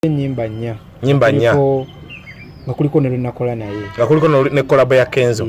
enyimba nnya nyimba nnya nga kuliko ne lwenakola naye nga kuliko ne kolabo ya kenzo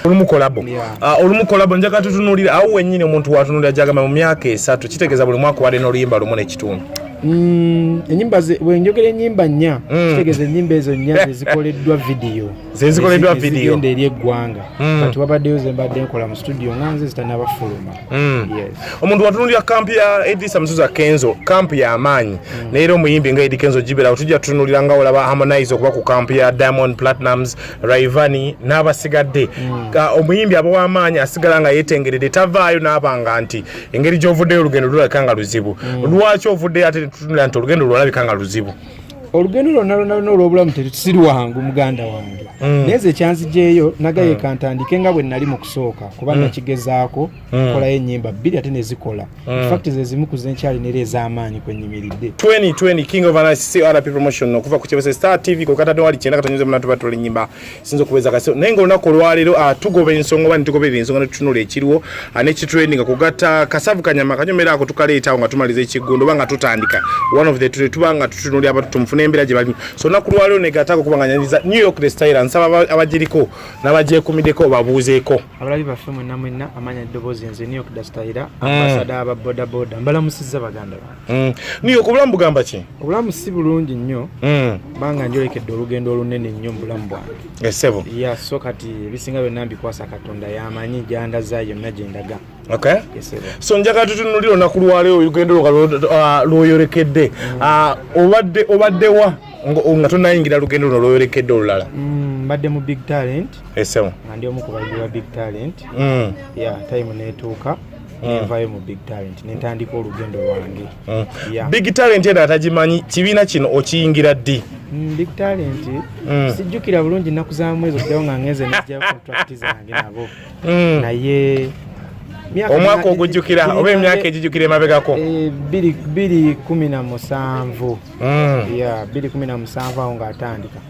olumu kolabo ah, olumu kolabo njaga tutunulira awo wenyini omuntu watunulira jagamba mu myaka esatu kitegeeza buli mwaka wali n'oluyimba lumu n'ekitundu mm, enyimba bwenjogera enyimba nnya mm. kitegeeza enyimba ezo nnya zezikoleddwa vidiyo zezikoleddwa video ende eri eggwanga mm. kati wabaddeyo zembadde nkola mu studio nga nze zitanabafuluma mm. yes. omuntu watunulira kampu ya edisa musuza kenzo kampu ya maanyi mm. naye era omuyimbi nga edi kenzo giberawo tujja tutunulira nga olaba harmonize okuba ku kampu ya diamond platinums raivani n'abasigadde mm. omuyimbi aba w'amaanyi asigala nga yetengeredde tavaayo n'abanga nti engeri gy'ovuddeyo olugendo lulabika nga luzibu mm. lwaki ovuddeyo ate tutunulira nti olugendo lwalabika nga luzibu olugendo lwonna lwonna lwonna olw'obulamu si lwangu muganda wange mm. naye ze kyanzigyeyo nagaye mm. kantandike nga bwe nali mu kusooka kuba mm. nakigezaako nkolayo ennyimba bbiri ate ne zikola fakti ze zimu ku ze nkyalina era ez'amaanyi kwe nnyimiridde okuva ku kyebese star tv ku katadde wali kyenda katonyoza munatuba tola ennyimba sinza okubeeza kasi naye nga olunaku olwaleero ah, tugoba ensonga oba nitugoberera ensonga netutunula ekiriwo ah, nekitrendinga kugatta kasavu kanyama kanyomera ako tukaleetawo nga tumaliza ekiggundo oba nga tutandika one of the two tuba nga tutunuli abantu tumufuna embeera gye balimu so olunaku lwaleero negatako kuba nga nyanyiza new york the styler nsaba abagiriko nabagyekumiddeko babuuzeeko abalabi baffe mwenna mwenna amanya eddoboozi nze new york the styler hmm. ambasada aba bodaboda mbalamusizza baganda bange Mm. Ni okubulamu bugamba ki? Obulamu si bulungi nnyo. Mm. Banga njolekedde olugendo olunene nnyo mu bulamu bwange. Esebo. Eh, ya yeah, so kati bisinga byonna mbikwasa Katonda yamanyi gyanda za yonna gye ndaga. Okay. Esebo. Eh, so njagala tutunuulira olunaku lwaleero olugendo uh, lwoyolekedde. Mm. Uh, obadde obadde wa nga tonayingira lugendo luno lwoyolekedde olulala? Mm, mbadde mu big talent. Esebo. Eh, nga ndi omu ku bayizi ba big talent. Mm. Ya yeah, time neetuuka. Mm. nenvayo mu big talent nentandika olugendo lwange mm. big talent ena atagimanyi kibiina kino okiyingira ddi mm, big talent sijjukira bulungi nnaku za mwezi okuddawo nga ngenze nejja contract zange nabo naye omwaka ogujjukira oba emyaka egijjukira emabegako eh, biri kumi na musanvu mm. yeah, bbiri kumi na musanvu awo ng'atandika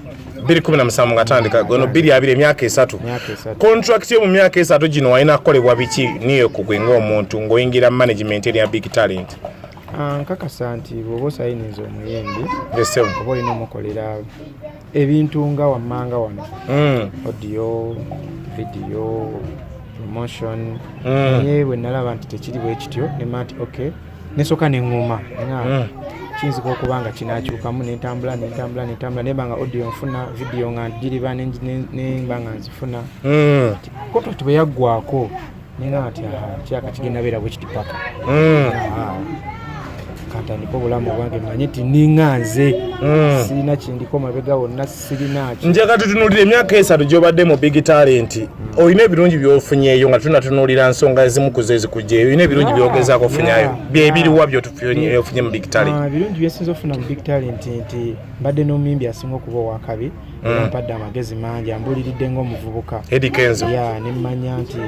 bbiri kumi na musanvu ng'atandika gono bbiri abiri emyaka esatu kontrakiti yo mu myaka esatu gino walina kukolebwa biki niyo kugwe ng'omuntu ng'oyingira management eriya big talent ah, nkakasa nti bwoba osayiniza omuyimbi oba olina omukolera ebintu nga wammanga wano mm. audio video promotion mm. naye bwe nalaba nti tekiri bwekityo nemanti okay nesoka neŋŋuma nga hmm. kiyinzika okuba nga kinakyukamu nentambula nentambula nentambula nemba nga audio nfuna vidiyo nga njiriba nemba nga nzifuna hmm. koto ti bwe yaggwako nenga nti kyaka kigenda beera bwe kiti paka hmm. kantandika obulamu bwange manye ti ninga nze sirina kindiko mabega wonna njagala tutunulira emyaka esatu gyobadde mu big talent olina ebirungi byofunyeeyo nga tunatunulira nsonga ezimu kuzo ezikugyeyo olina ebirungi byogezaako ofunyayo byebiriwa byotufunye mu big talent ah, ebirungi byesinza okufuna mu big talent nti mbadde n'omuyimbi asinga okuba owakabi mm. mpadde amagezi mangi ambuliridde ngaomuvubuka edikenzo ya nemmanya nti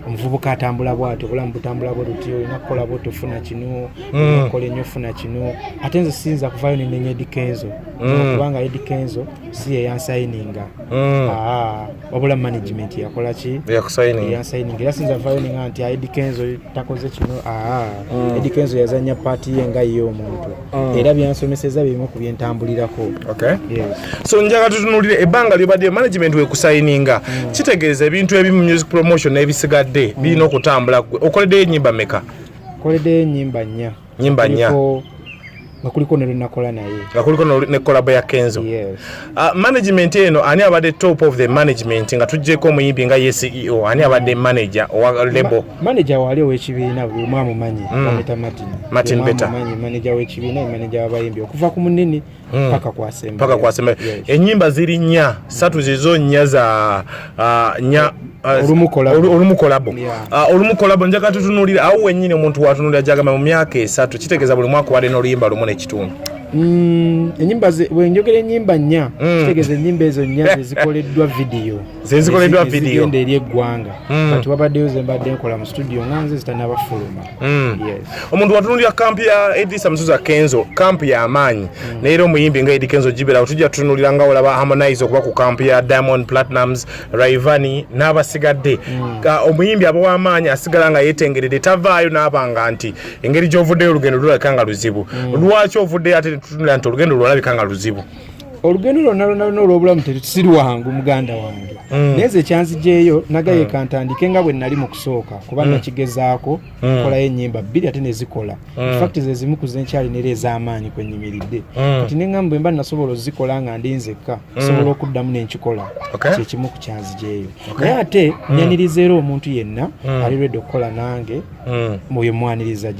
omuvubuka atambula bwati obulamu butambula bwe luti olina kukola bwotofuna kino mm. okola ennyo ofuna kino ate nze siyinza kuvayo nenenya edikenzo mm. kubanga ed kenzo si yeyansayininga mm. ah, wabula management yakolaki yasayininga era sinza vayo ninga nti ed kenzo takoze kino ah, mm. ed kenzo yazanya paati ye nga ye omuntu era byansomeseza bimu ku byentambulirako so njaga tutunulire ebbanga lyobadde management wekusayininga kitegeeza ebintu ebimu music promotion ebisigadde birina okutambula gwe okoleddeyo enyimba meka nkoleddeyo enyimba nnya nyimba nya nga kuliko ne lwenakola naye nga kuliko ne kolabo ya kenzo yes. uh, management eno ani abadde top of the management nga tujjeko omuyimbi nga ye ceo ani abadde mm. manager owa lebo Ma, manager wali owekibiina buli omu amumanyi mm. martin martin beta manager wekibiina manager wabayimbi okuva ku munene Hmm. paka kwasemba paka kwasemba yes. enyimba ziri nya satu zizo nya za uh, nya uh, olumu kolabo olumu kolabo yeah. uh, olumu kolabo njaka tutunulira au wenyine omuntu watunulira jagama mu myaka esatu kitegeza buli mwaka wale no luyimba lumu ne kitundu mm, enyimba ze wenjogera enyimba nya mm. kitegeza enyimba ezo nya zikoleddwa video zezikoleddwa video ende eri eggwanga mm. kati wabaddeyo zembadde nkola mu studio nga nze zitanaba fuluma mm. omuntu watunulira kampu ya edisa musuza kenzo kampu ya amaanyi mm. naye era omuyimbi nga edi kenzo gibera otujja tutunulira nga olaba harmonize okuba ku kampu ya diamond platinums raivani n'abasigadde omuyimbi aba w'amaanyi asigala nga yetengeredde tavaayo n'abanga nti engeri gy'ovuddeyo olugendo lulabika nga luzibu lwaki ovuddeyo ate tutunulira nti olugendo lwalabika nga luzibu olugendo lwonna lwonna lwonna olw'obulamu si lwangu muganda wange mm. naye ze kyanzigyeyo nagaye mm. kantandike nga bwe nali mu kusooka kuba mm. nakigezaako nkolayo ennyimba bbiri ate ne zikola fakti ze zimu ku zenkyali nera ez'amaanyi kwe nnyimiridde kati ne ŋamba bwe mba nasobola ozikola nga ndi nzekka osobola okuddamu ne nkikola kye kimu ku kyanzigyeyo naye ate nyaniriza era omuntu yenna ali lwedde okukola nange Mm. oyo mwaniriza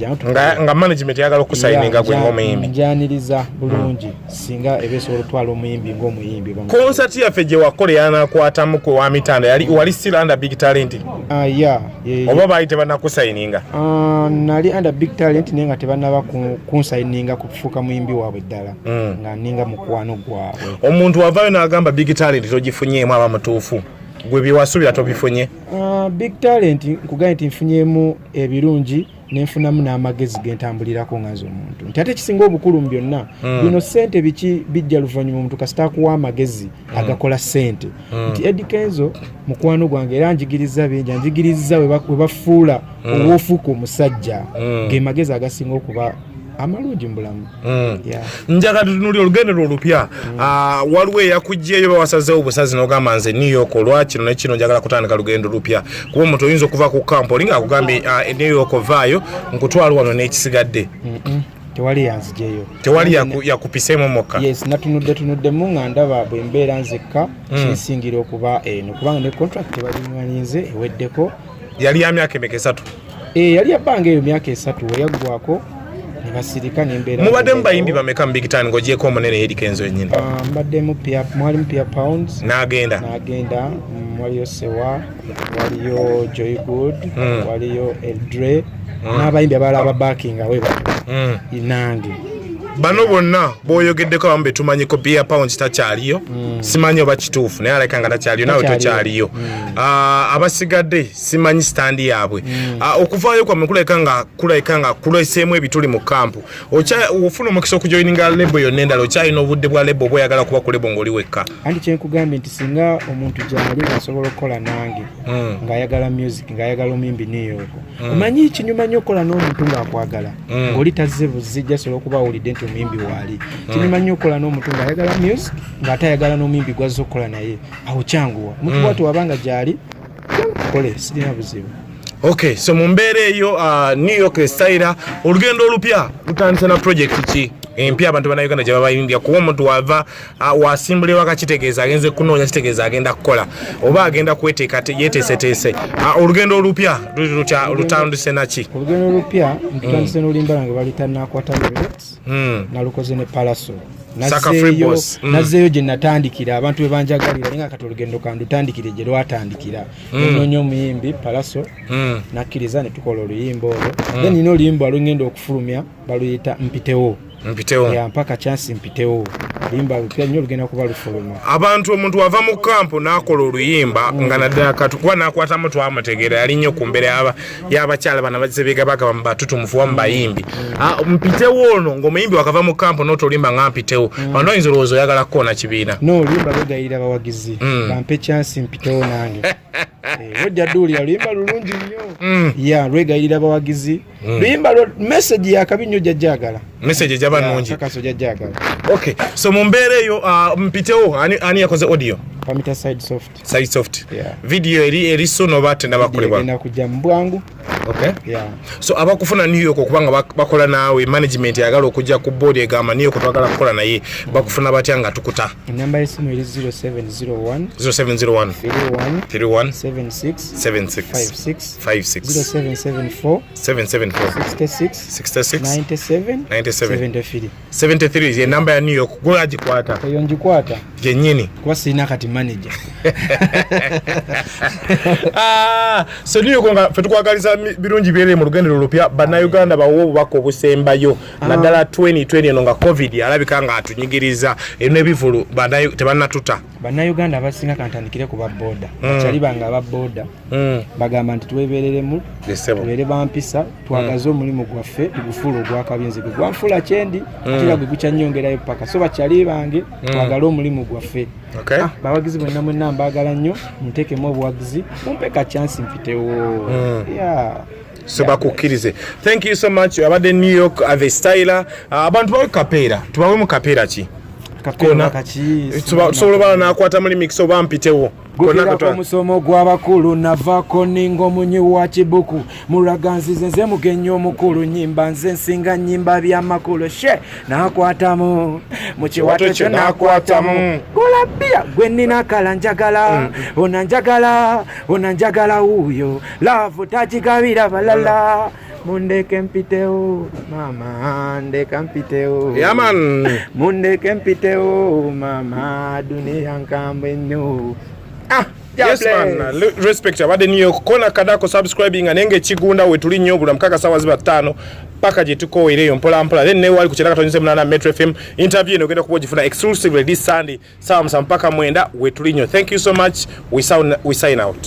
nga management yagala okusayininga gwe ngaomuyimbi njaniriza bulungi mm. singa eba esobola otwala omuyimbi ngaomuyimbi konsert yaffe gye wakola yanakwatamu kwe wa mitanda yali wali still under big talent ah, ya oba baali tebanakusayininga ah, nali under big talent naye nga tebanaba kunsayininga kufuuka muyimbi waabwe ddala mm. nga ninga mukwano gwabwe omuntu wavayo n'agamba big talent togifunyeemu aba mutuufu gwe byewasuubira tobifunye Uh, big talent nkugambye nti nfunyemu ebirungi nenfunamu n'amagezi gentambulirako nga nze omuntu nti ate ekisinga obukulu mu byonna mm. bino sente biki bijja luvannyuma omuntu kasita akuwa amagezi mm. agakola sente mm. nti edi kenzo mukwano gwange era njigiriza bingi anjigiriza webafuula mm. owofuuka omusajja mm. ge magezi agasinga okuba amalungi mubulamu mm. njagala tutunuli olugendo lwo olupya mm. ah, waliwo eyakugyeyo bawasazewo obusazi nogamba nze new york olwa kino nekino njagala kutandika lugendo lupya kuba omuntu oyinza okuva ku kampo olinga akugambye ah, e new york ovaayo nkutwala wano n'ekisigadde tewali yanzijeyo tewali yakupisemu mukka yes natunudde tunuddemu nga ndaba bwe mbeera nzekka mm. kinsingira okuba eno kubanga ne contract tebalimwalinze eweddeko yali ya myaka emeka esatu eh, yali yabbanga eyo myaka esatu weyaggwako nebasirika nembeera mubaddemu bayimbi bameka mu big town ngaogyeko omunene yeri kenzo yenyini ah, mbaddemu mwalimu pia pounds nagenda nagenda mm, waliyo sewa waliyo joy good hmm. waliyo eldre hmm. n'abayimbi abalala ababakinga weba hmm. nange bano bonna boyogeddeko abamu betumanyiko bia pounds takyaliyo mm. simanyi oba kituufu naye aleka nga takyaliyo nawe tokyaliyo mm. ah, abasigadde simanyi sitandi yaabwe mm. ah, okuvaayo kwamwe kulabika nga kulabika nga kuleseemu ebituli mu kampu ofuna omukisa okujoininga lebo yonna endala okyalina obudde bwa lebo oba oyagala kuba ku lebo ngaoli wekka anti kyenkugambye nti singa omuntu gyali asobola okukola nange mm. ng'ayagala music ng'ayagala omuyimbi niyooko Mm. omanyi mm. kinyuma nyo okukola n'omuntu ng'akwagala mm. oli tazze buzzi jasobola okuba awulidde nti omuyimbi waali mm. kinyuma nyo okukola n'omuntu ng'ayagala music ng'ate ayagala n'omuyimbi gwazza okukola naye awo kyanguwa omuntu mm. watu wabanga gyali kole sirina buzibu ok so mu mbeera eyo uh, new york esayira olugendo olupya lutandise na project ki empya abantu banauganda gye babayimbya kuba omuntu wava wasimbula ewaka kitegeeza agenze kunoonya kitegeeza agenda kukola oba agenda kweteeka yeteeseteese olugendo olupya luli lutya lutandise naki olugendo olupya ntutandise mm. nolulimbala nga balitanakwata mm. nalukoze ne palaso nazeeyo mm. gye natandikira abantu bebanjagalira naye nga kati olugendo kandutandikire gye lwatandikira nonoonya omuyimbi palaso nakkiriza ne tukola oluyimba olwo then nina oluyimba lwengenda okufulumya baluyita mpitewo mpitewo ya mpaka chance mpitewo limba lupya nyo lugenda kuba lufuluma abantu omuntu wava mu kampo nakola oluyimba mm. nga naddala katukuba nakwata mu twamutegeera yali nyo ku mbere yaba yabakyala bana bazize biga bagaba mu batutu mufuwa mu bayimbi mm. ah, mpitewo ono ng'omuyimbi wakava mu kampo notolimba nga mpitewo mm. ano oyinza olowooza oyagala kukoona kibiina no limba lugayira bawagizi mm. bampe chance mpitewo nange eh, ojja duulira luyimba lulungi nnyo mm. ya lwegayirira bawagizi Mm. Luyimba lwa message ya kabi nnyo jajjagala. Message ejaba nungi. Kaka so jajjagala. Okay. So mu mbeera eyo uh, mpitewo ani ani yakoze audio? Pamita side soft. Side soft. Yeah. Video eri eri so no bate na bakole bwa. Ina kuja mbwangu. Okay. Yeah. So abakufuna New York kubanga bakola nawe management yagala okujja ku board egamba niyo kutwagala kukola naye bakufuna batya nga tukuta. Namba ya simu eri 0701 0701 31 31 76 76 56 ye namba ya new york gwe agikwata eyo ngikwata gyenyini kuba sirina kati manager ah, so new york nga fetukwagaliza birungi byere mu lugendero olupya bannayuganda bawo obubaka obusembayo ah. naddala 2020 eno nga covid alabika nga atunyigiriza erina ebivulu tebanatuta bannayuganda abasinga kantandikire ku baboda hmm. bakyali bange ababoda Mm. bagamba nti twebereremu tubeere bampisa twagaze mm. omulimu gwaffe tugufuula ogwakabinzi gwe gwanfuula kyendi mm. atira gwe gukyanyongerayo paka so bakyali bange twagale omulimu gwaffe ah, bawagizi bwenna mwenna mbaagala nnyo muntekemu obuwagizi mumpe ka chansi mpitewo so bakukkirize thank you so much abadde new york uh, the styler uh, abantu bawe kapeera tubawe mu kapeera ki tusobola obala nakwata muli mikisa oba mpitewo gukira ku musomo gw'abakulu navako ninga omunyi wa kibuku mulaganzize nze mugenyi omukulu nyimba nze nsinga nyimba byamakulu she nakwatamu mu kiwato kyo nakwatamu golabia gwe nina kala njagala mm. ona njagala ona njagala wuuyo laavu tagigabira balala Mundeke mpiteo mama, ndeka mpiteo yeah, man. Mundeke mpiteo mama, dunia nkambwe nnyo ah. Yes, man. Respect abadde New York kona kadako subscribing anenge ekigunda wetuli nnyo bula mukaka sawa ziba ttaano paka gye tukooera eyo mpola mpola then newali ku kiraka tonyuze munana Metro FM interview eno ogenda kuba ogifuna exclusively this Sunday sawa musa mpaka mwenda wetuli nnyo thank you so much we, sound, we sign out